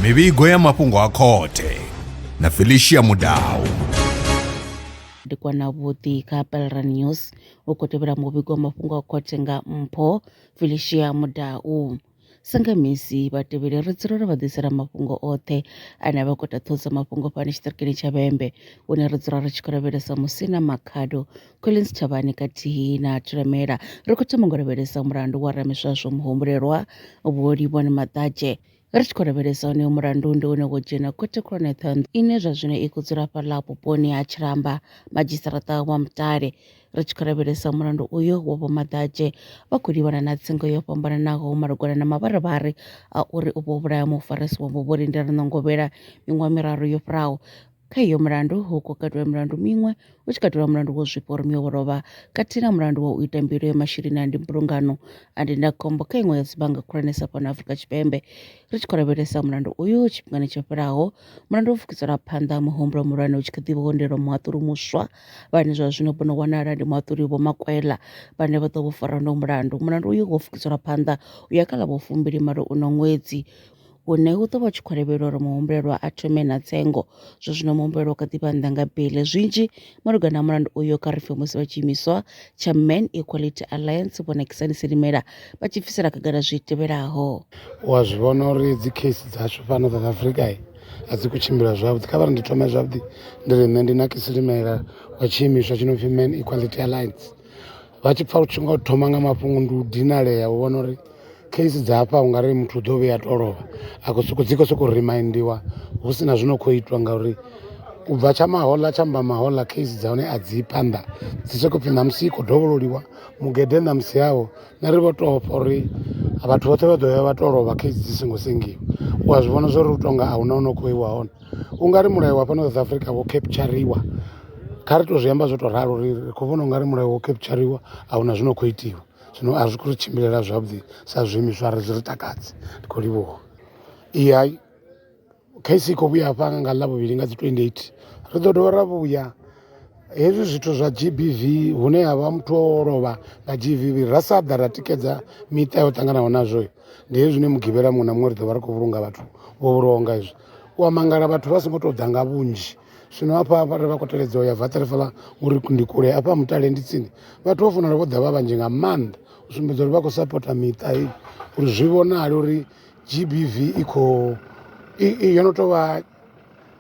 mivhigo ya mafhungo a khothe na felicia mudau ndi kwana vhuḓi kha pelra news u khou tevhela muvhigo wa mafhungo a khothe nga mpho felicia mudau sanga misi vhatevheli ri dzulela vha ḓisela mafhungo oṱhe ane a vha khou taṱhodza mafhungo fhano tshiṱirikini tsha vhembe hune ri dzula ri tshi khou lavhelesa musina makhado Collins Thabani khathihi na Thulamela ri khou thoma ngo lavhelesa mulandu wa Ramiswaswo muhumbulelwa Vho Livhoni Maṱadzhe. Ri tshi khou lavhelesa onoyo mulandu ndi une wo dzhena khothe khulwane Ṱhohoyanḓou ine zwa zwino i khou dzula fhaḽa vhuponi ha Tshilamba madzhisiṱaraṱa wa Mutale. Ri tshi khou lavhelesa mulandu uyo wa Vho Maḓadzhe vha khou livhana na tsengo yo fhambananaho malugana na mavharivhari a uri u vho vhulaya mufarisi wavho Vho Lindela Ṋongovhela miṅwaha miraru yo fhiraho. Kha iyo mulandu hu khou katelwa milandu miṅwe, hu tshi katelwa mulandu wo zwifha uri muya wo lovha, khathihi na mulandu wa u ita mbilo ya masheleni a ndimbulungano a ndindakhombo kha iṅwe ya dzibannga khulwanesa fhano Afrika Tshipembe. Ri tshi khou lavhelesa mulandu uyu tshifhingani tsho fhelaho, mulandu wo pfukisela phanḓa muhumbulo muhulwane hu tshi kha ḓi vha ho muhaṱuli muswa vhane zwa zwino bono wanala ndi muhaṱuli Vho Makwela vhane vha ḓo vho fara no mulandu. Mulandu uyu wo pfukisela phanḓa u ya kha ḽa vho fumbili malo uno ṅwedzi. hune hu ḓo vha tshi khou lavhelela uri muhumbulelwa a thome na tsengo zwa zwino muhumbulelwa u kha ḓi vha nnḓa nga bele zwinzhi malugana na mulandu uyo kha ri pfe musi vha tshiimiswa tsha man equality alliance vho nakisani silimela vha tshi bvisela khagala zwi tevhelaho u a zwi vhona uri dzi case dzashu fhano south africa a dzi khou tshimbila zwavhuḓi kha vha ri ndi thome zwavhuḓi ndi ri nṋe ndi nakisilimela wa tshiimiswa tshi no pfi man equality alliance vha tshi pfha u tshi nga thoma nga mafhungo ndi u dinalea u vhona uri case dza hafha u nga ri muthu u ḓo vhuya a to lovha a khou sokou dzi khou sokou reminder hu si na zwi no khou itwa ngauri u bva tsha mahoḽa tsha mba mahoḽa case dza hone a dzi phanḓa dzi sokou pfhi ṋamusi i khou dovhololiwa mugede ṋamusi yawo na ri vho tou pfha uri vhathu vhoṱhe vha ḓo ya vha to lovha case dzi songo sengiwa u a zwi vhona zwo ri u tonga a huna u no khou iwa hone u nga ri mulayo wa fhano south africa wo kheputshariwa kha ri to zwi amba zwo to ralo ri ri khou vhona ungari mulayo wo kheputshariwa a huna zwino khou itiwa zwino a zwi khou ri tshimbilela zwavhuḓi sa zwiimiswa ri zwi ri takadzi ndi khou livhuwa i hai khaisi i khou vhuya hafha nga ḽa vhuvhili nga dzi 28 ri ḓo dovha ra vhuya hezwi zwithu zwa gbv hune ha vha muthu o lovha nga gbv ra sa ḓa ra tikedza miṱa yo ṱanganaho nazwo ndi hezwi zwine mugivhela muṅwe na muṅwe ri ḓo vha ri khou vhulunga vhathu vho vhulwaho nga hezwi u a mangala vhathu vha songo tou ḓa nga vhunzhi zwino hafha vhare vha khou teledza u ya vaṱerefala uri ndi kule hafha mutale ndi tsini vhathu vha fanela vho ḓa vha vhanzhi nga maanḓa u sumbedza uri vha khou sapota miṱa heyi uri zwi vhonale uri gbv i khou yo no tou vha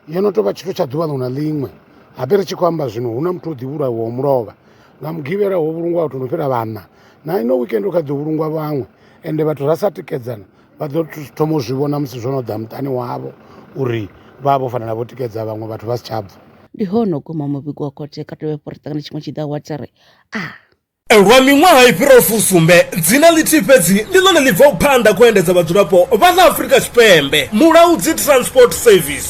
yo no tou vha tshithu tsha ḓuvha ḽiṅwe na ḽiṅwe habe ri tshi khou amba zwino hu na muthu o ḓivhulahiwaho mulovha nga mugivhela ho vhulungwa vhathu no fhira vhanna na ino weekend u kha ḓo vhulungwa vhaṅwe ende vhathu ra sa tikedzana vha ḓo thoma u zwi vhona musi zwo no ḓa muṱani wavho uri vha vha vho fanela vho tikedza vhaṅwe vhathu vha si tsha bva ndi hone u guma muvhigo wa khothe kha tovhe porotaka na tshiṅwe tshiḓa wa tari a ah. Lwa miṅwaha i fhiraho fusumbe dzina ḽithihi fhedzi ndi ḽone ḽi bvaho phanḓa khou endedza vhadzulapo vha ḽa Afrika Tshipembe mulaudzi Transport Service